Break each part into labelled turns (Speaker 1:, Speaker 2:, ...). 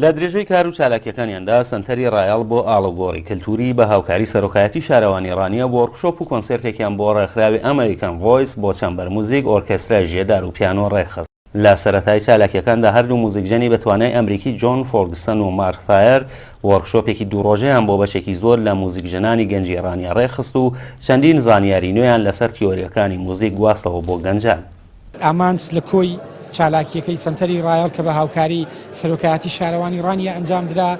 Speaker 1: لە درێژەی کار و چالاکیەکانیاندا سەنتەری ڕایەڵ بۆ ئاڵوگۆڕی کەلتوری بە هاوکاری سەرۆکایەتی شارەوانی ڕانیە وۆرکشۆپ و کۆنسێرتێکیان بۆ ڕێکخراوی ئەمەریکان ڤۆیس بۆ چەمبەر موزیک ئۆرکێسترای ژێدار و پیانۆ ڕێکخست. لە سەرەتای چالاکییەکاندا هەردوو موزیکژەنی بە توانای ئەمریکی جۆن فۆرگسەن و مارک ثایەر وۆرکشۆپێکی دوو ڕۆژەیان بۆ بەشێکی زۆر لە موزیکژەنانی گەنجی ئێڕانیا ڕێکخست و چەندین زانیاری نوێیان لەسەر تیۆرییەکانی موزیک گواستەوە بۆ گەنجان. ئامانج لە
Speaker 2: کۆی چالاکییەکەی سەنتەری ڕایەڵ کە بە هاوکاری سەرۆکایەتی شارەوانی ڕانیە ئەنجامدرا،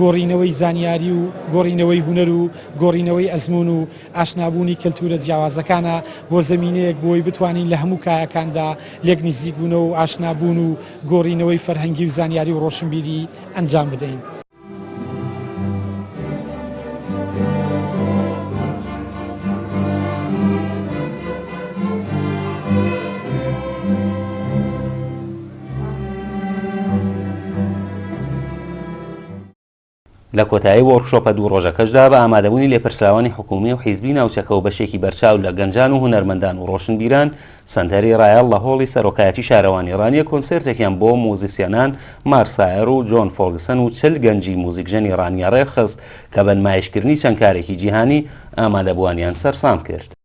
Speaker 2: گۆڕینەوەی زانیاری و گۆڕینەوەی هونەر و گۆڕینەوەی ئەزموون و ئاشنابوونی کەلتوورە جیاوازەکانە بۆ زەمینەیەک بۆی بتوانین لە هەموو کایەکاندا لێک نزیکبوونەوە و ئاشنابوون و گۆڕینەوەی فەرهەنگی و زانیاری و ڕۆشنبیری ئەنجام بدەین.
Speaker 1: لە کۆتایی وۆرکشۆپە دوو ڕۆژەکەشدا بە ئامادەبوونی لێپرسراوانی حکوومی و حیزبی ناوچەکە و بەشێکی بەرچاو لە گەنجان و هونەرمەندان و ڕۆشنبیران، سەنتەری ڕایەڵ لە هۆڵی سەرۆکایەتی شارەوانی ڕانیە کۆنسێرتێکیان بۆ موزیسیەنان مارسایەر و جۆن فۆگسن و چل گەنجی موزیکژەنی ڕانیە ڕێکخست کە بە نمایشکردنی چەند کارێکی جیهانی، ئامادەبووانیان سەرسام کرد.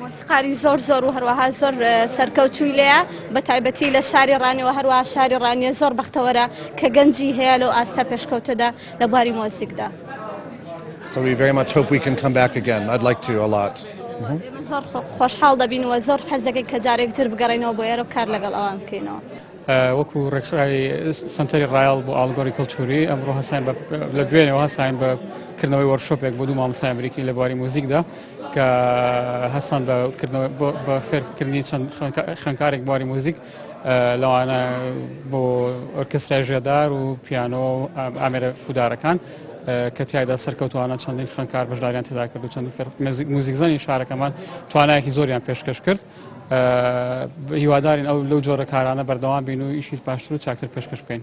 Speaker 3: مۆسیقاری
Speaker 4: زۆر زۆر و هەروەها زۆر سەرکەوتووی لێە بە تایبەتی لە شاری ڕانیەوە هەروە شاری ڕانیە زۆر بەختەوەرە کە گەنجی هەیە لەو ئاستە پێشکەوتەدا لە باری مۆسیکدا.
Speaker 3: So we very much hope we can come back again. I'd like to a lot. زۆر
Speaker 4: خۆشحاڵ دەبین و زۆر حەزەکەین کە جارێک تر بگەڕێنەوە بۆ ئێرە کار لەگەڵ ئەوان بکەینەوە. وەکو
Speaker 5: ڕێکخراوی سنتەری ڕایال بۆ ئاڵگۆری کللتوری ئەمڕۆ هەسان لە دوێنەوە هەساین بە کردنەوەی وەرشۆپێک بۆ دوو مامۆسای ئەمریکی لە بواری موزیکدا کە هەستان بە کردنەوە بە فێرکردنی چەند خوێندکارێک بواری موزیک لەوانە بۆ ئۆرکسترای ژێدار و پیانۆ و ئامێرە فودارەکان کە تایدا سەرکەوتوانە چەندین خوێندکار بەشداریان تێدا کرد و چەند موزیکزانی شارەکەمان توانایەکی زۆریان پێشکەش کرد هیوادارین ئەو لەو جۆرە کارانە بەردەوام بین و ئیشی باشتر و چاکتر پێشکەش بکەین.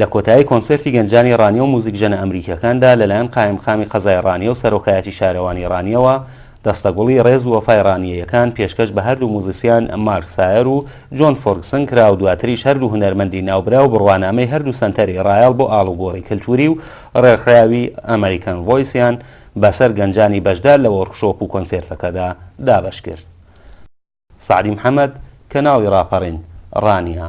Speaker 1: لە کۆتایی کۆنسێرتی گەنجانی ڕانیە و موزیکژەنە ئەمریکیەکاندا لەلایەن قایمقامی قەزای ڕانیە و سەرۆکایەتی شارەوانی ڕانیەوە دەستە گوڵی ڕێز و وەفای ڕانیەیەکان پێشکەش بە هەردوو موزیسیان مارک سایەر و جۆن فۆرگسن کرا و دواتریش هەردوو هونەرمەندی ناوبراو بڕوانامەی هەردوو سەنتەری ڕایەڵ بۆ ئاڵوگۆڕی کەلتوری و ڕێکخراوی ئەمەریکەن ڤۆیسیان بەسەر گەنجانی بەشدار لە وۆرکشۆپ و کۆنسێرتەکەدا دابەشکرد. سەعدی محەمەد، کەناڵی ڕاپەڕین، ڕانیە.